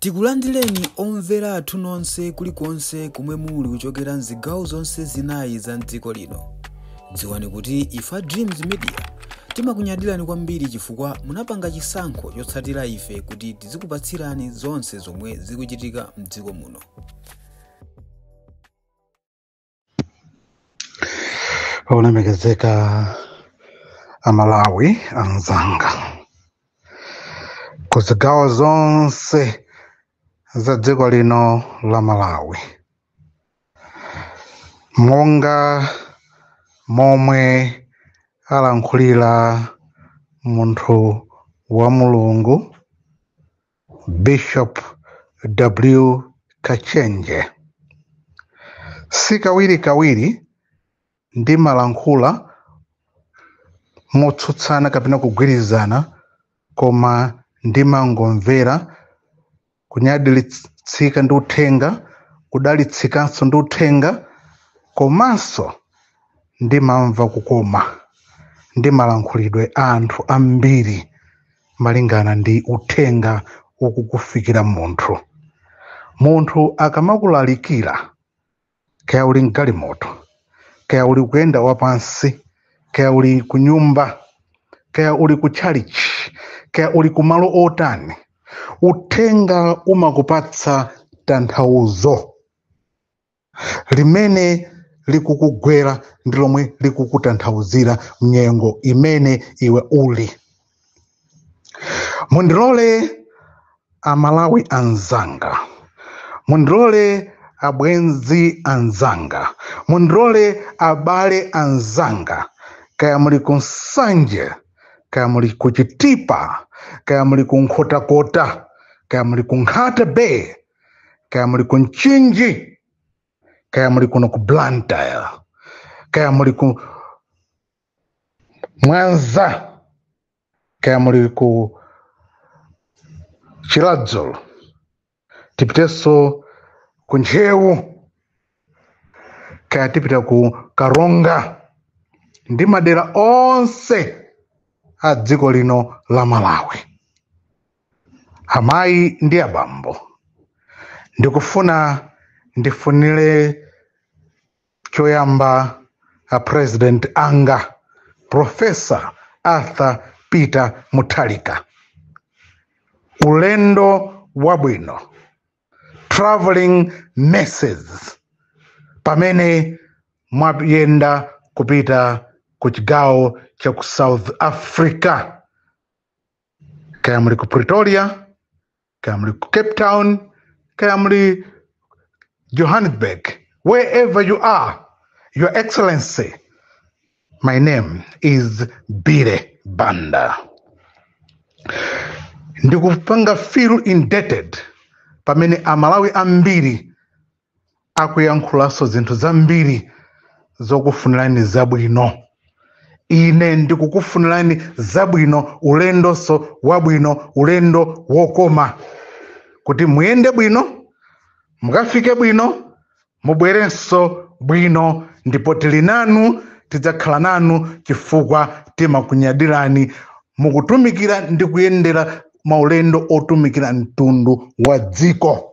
Tikulandireni omvera athu nonse kulikonse komwe muli kuchokera mzigawo zonse zinayi za mdziko lino. Dziwani kuti ife a Dreams Media timakunyadirani kwambiri chifukwa munapanga chisankho chotsatira ife kuti tizikupatsirani zonse zomwe zikuchitika mdziko muno. olemekezeka amalawi anzanga ku zigawo zonse za dziko lino la malawi monga momwe alankhulira munthu wa mulungu Bishop W. Kachenje. Si kawirikawiri ndimalankhula motsutsana kapena kugwirizana koma ndimangomvera kunyadilitsika ndi uthenga kudalitsikanso ndi uthenga komanso ndimamva kukoma ndi malankhulidwe a anthu ambiri malingana ndi uthenga ukukufikira munthu munthu akamakulalikira kaya uli mgalimoto kaya uli kuyenda wapansi kaya uli ku nyumba kaya uli ku chalichi kaya uli ku malo otani uthenga umakupatsa tanthauzo limene likukugwera ndi lomwe likukutanthauzira mnyengo imene iwe uli mundilole amalawi anzanga mundilole abwenzi anzanga mundilole abale anzanga kaya muli ku nsanje kaya muli ku chitipa kaya muli ku nkhotakota kaya muli ku nkhata bay kaya muli ku mchinji kaya muli kuno ku blantyre kaya muli ku mwanza kaya muli ku chiradzulu tipitenso ku ntcheu kaya tipita ku karonga ndi madera onse a dziko lino la malawi amayi ndi abambo ndikufuna ndifunire choyamba a president anga profesa arthur peter mutharika ulendo wabwino traveling mercies pamene mwayenda kupita ku chigawo cha ku south africa kaya muli ku pretoria kaya muli ku cape town kaya muli johannesburg wherever you are your excellency my name is bire banda ndikupanga feel indebted pamene amalawi ambiri akuyankhulanso zinthu zambiri zokufunirani zabwino ine ndikukufunirani zabwino ulendonso wabwino ulendo wokoma kuti muyende bwino mukafike bwino mubwerenso bwino ndipo tili nanu tidzakhala nanu chifukwa timakunyadirani mukutumikira ndi kuyendera maulendo otumikira mtundu wa dziko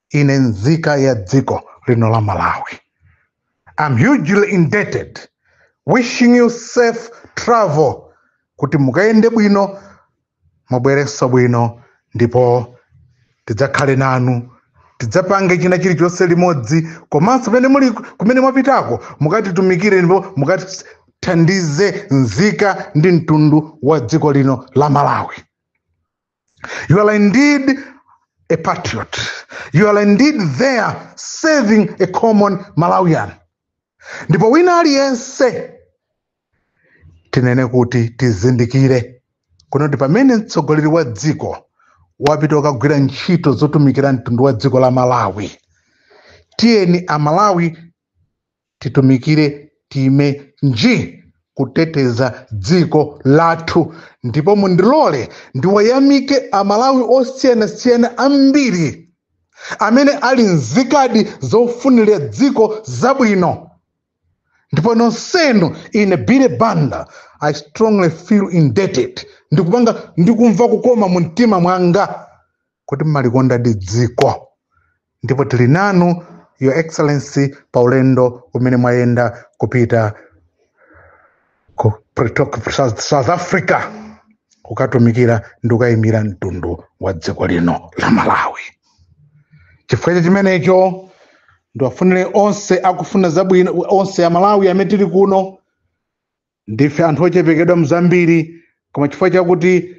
ine nzika ya dziko lino la malawi I'm hugely indebted wishing you safe travel kuti mukayende bwino mubwerenso bwino ndipo tidzakhale nanu tidzapange china chilichonse limodzi komanso kumene muli kumene mwapitako mukatitumikire ndipo mukatithandize nzika ndi mtundu wa dziko lino la malawi You are indeed a patriot. You are indeed there serving a common Malawian. Ndipo wina aliyense tinene kuti tizindikire kuno kuti pamene mtsogoleri wa dziko wapita kukagwira ntchito zotumikira mtundu wa dziko la Malawi, tiyeni Amalawi titumikire taime nji kuteteza dziko lathu ndipo mundilole ndiwayamike amalawi osiyanasiyana ambiri amene ali nzikadi zofunira dziko zabwino ndipo nonsenu ine bire banda i strongly feel indebted ndikupanga ndikumva kukoma mu mtima mwanga kuti mumalikondadi dziko ndipo tili nanu your excellency pa ulendo umene mwayenda kupita ku south africa kukatumikira ndi kukayimira mtundu wa dziko lino la malawi chifukwa cha chimenecho ndiwafunire onse akufuna zabwino onse amalawi amene tili kuno ndife anthu ochepekedwa mzambiri koma chifukwa chakuti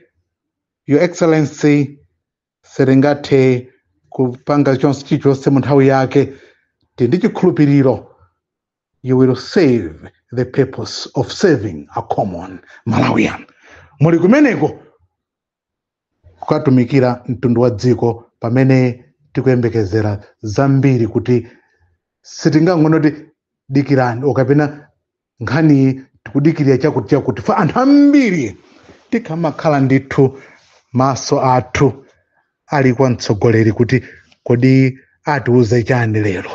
your excellency sitingathe kupanga chonse chilichonse mu nthawi yake tili ndi chikhulupiriro you will serve the purpose of serving a common malawian muli kumeneko kukatumikira mtundu wa dziko pamene tikuyembekezera zambiri kuti sitingangonoti dikirani okapena nkhani tikudikirira chakuti chakuti for anthu ambiri tikamakhala ndithu maso athu ali kwa mtsogoleri kuti kodi atiuze chani lero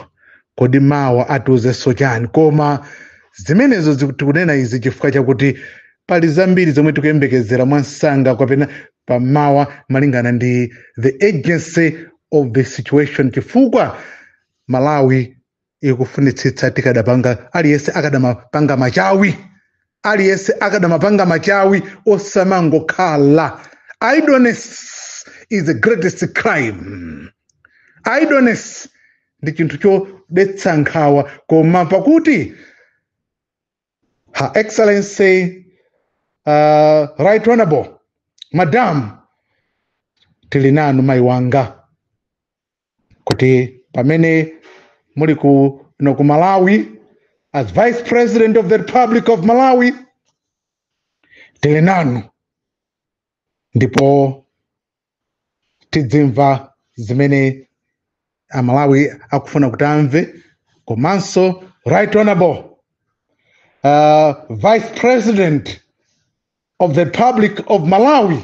kodi mawa atiuzenso chani koma zimenezo ziku- tikunena izi chifukwa chakuti pali zambiri zomwe tikuyembekezera mwamsanga kapena pamawa malingana ndi the urgency of the situation chifukwa malawi ikufunitsitsa tikadapanga aliyense akadamapanga machawi aliyense akadamapanga machawi osamangokhala idleness is the greatest crime idleness ndi chinthu chodetsa nkhawa koma pakuti her excellency uh, right honorable madam tili nanu mayi wanga kuti pamene muli kuno ku malawi as vice president of the republic of malawi tili nanu ndipo tidzimva zimene amalawi akufuna kuti amve komanso right honorable uh, vice president of the Republic of Malawi,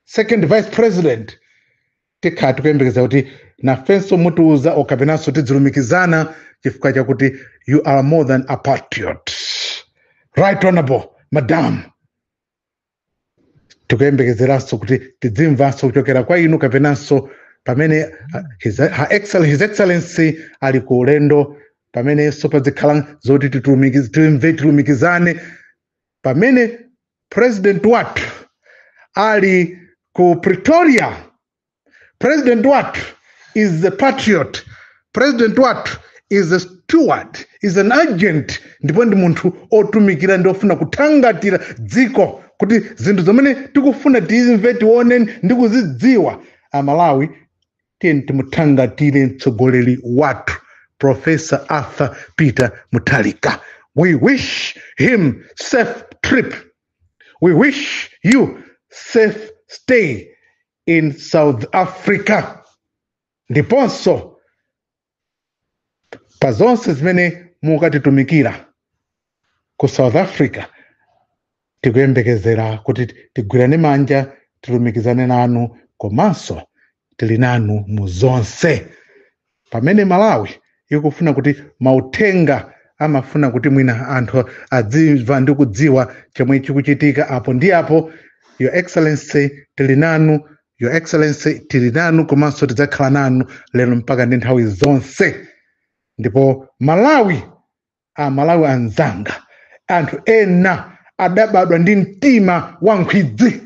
second vice president, tikhala tikuyembekezera kuti nafenso mutiuza okapenanso tidzilumikizana chifukwa chakuti you are more than a patriot. Right honorable madam. tikuyembekezeranso kuti tidzimvanso kuchokera kwa inu kapenanso pamene uh, his, her excel, his excellency ali ku ulendo pamenenso padzikhala zoti titumiki- timve tilumikizane pamene president wathu ali ku pretoria president wathu is a patriot president wathu is a steward is an agent ndipo ndi munthu otumikira ndi ofuna kuthangatira dziko kuti zinthu zomwe tikufuna tizimve tione ndi kuzidziwa amalawi tiyeni timuthangatire mtsogoleri wathu professor arthur peter muthalika we wish him safe trip we wish you safe stay in south africa ndiponso pa zonse zimene mukatitumikira ku south africa tikuyembekezera kuti tigwirane manja tilumikizane nanu komanso tili nanu mu zonse pamene malawi ikufuna kuti mauthenga amafuna kuti mwina anthu adzimva ndi kudziwa chomwe chikuchitika apo ndi apo your excellency tili nanu your excellency tili nanu komanso tidzakhala nanu lero mpaka ndi nthawi zonse ndipo malawi amalawi anzanga anthu ena adabadwa ndi mtima wa nkhwidzi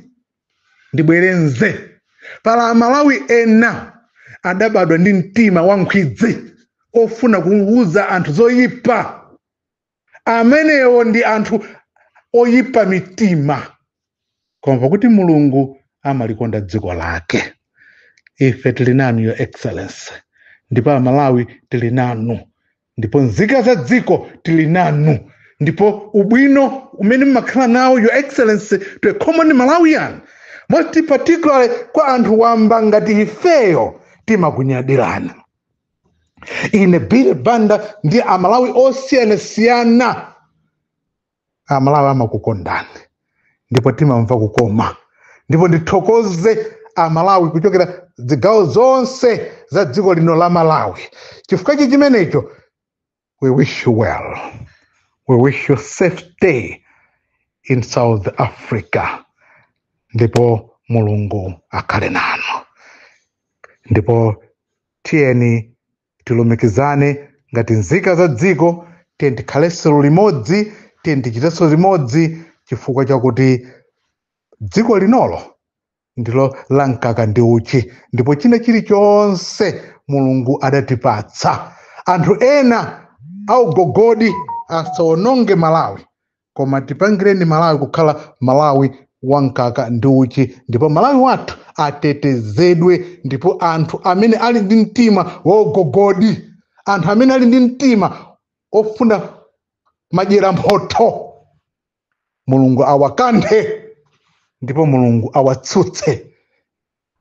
ndibwerenze pali amalawi ena adabadwa ndi mtima wa nkhwidzi ofuna kuuza anthu zoyipa amenewo ndi anthu oyipa mitima koma pakuti mulungu amalikonda dziko lake ife tili nanu your excellency ndipo amalawi tili nanu ndipo nzika za dziko tili nanu ndipo ubwino umene mumakhala nawo your excellency to a common malawian most particularly kwa anthu wamba ngati ifeyo timakunyadirani ine billy banda ndi amalawi osiyanasiyana amalawi amakukondani ndipo timamva kukoma ndipo ndithokoze amalawi kuchokera zigawo zonse za dziko lino la malawi chifukwa chi chimenecho We wish you well. We wish you safe stay in South Africa. Ndipo Mulungu akhale nanu. Ndipo tiyeni tilumikizane ngati nzika za dziko tiyeni tikhalenso limodzi tiyeni tichitenso limodzi chifukwa chakuti dziko linolo ndilo la mkaka ndi uchi ndipo china chilichonse mulungu adatipatsa anthu ena augogodi asawononge malawi koma tipangireni malawi kukhala malawi wa mkaka ndi uchi ndipo malawi wathu atetezedwe ndipo anthu amene ali ndi mtima waugogodi anthu amene ali ndi mtima ofuna madyera mphotho mulungu awakanthe ndipo mulungu awatsutse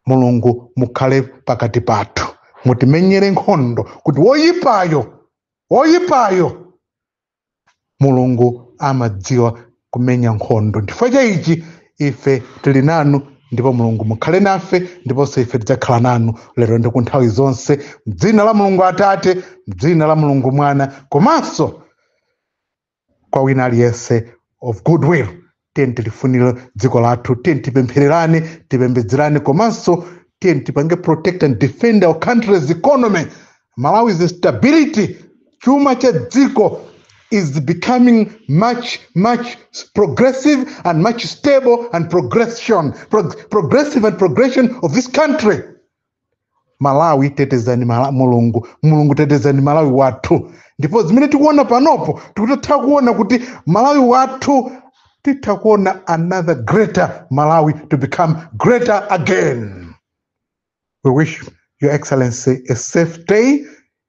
mulungu mukhale pakati pathu mutimenyere nkhondo kuti woyipayo woyipayo mulungu amadziwa kumenya nkhondo chifukwa cha ichi ife tili nanu ndipo mulungu mukhale nafe ndiponso ife tidzakhala nanu lero ndi ku nthawi zonse mdzina la mulungu atate mdzina la mulungu mwana komanso kwa wina aliyense of goodwill tiyeni tilifunire dziko lathu tiyeni tipemphererane tipembedzerane komanso tiyeni tipange protect and defend our country's economy malawi's stability chuma cha dziko is becoming much much progressive and much stable and progression prog progressive and progression of this country malawi tetezani mala, mulungu mulungu tetezani malawi wathu ndipo zimene tikuona panopo tikutatha kuona kuti malawi wathu titha kuona another greater malawi to become greater again we wish your excellency a safe stay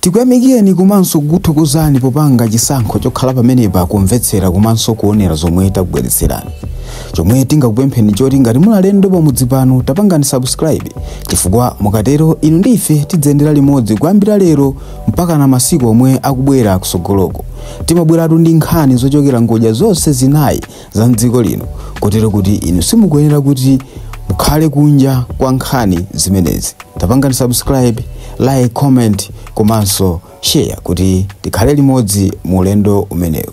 Tikuyamikeni komanso kukuthokozani popanga chisankho chokhala pamenepa kumvetsera komanso kuonera zomwe takubweretserani. Chomwe tingakupempheni nchoti ngati muli alendo pamudzi pano tapangani subscribe chifukwa mukatero inu ndi ife tidziyendera limodzi kuyambira lero mpakana masiku omwe akubwera kusogoloko. Timabweratu ndi nkhani zochokera ngodya zonse zinayi za mdziko lino kotero kuti inu simukuyenera kuti mukhale kunja kwa nkhani zimenezi tapangani subscribe like comment komanso share kuti tikhale limodzi mu ulendo umenewu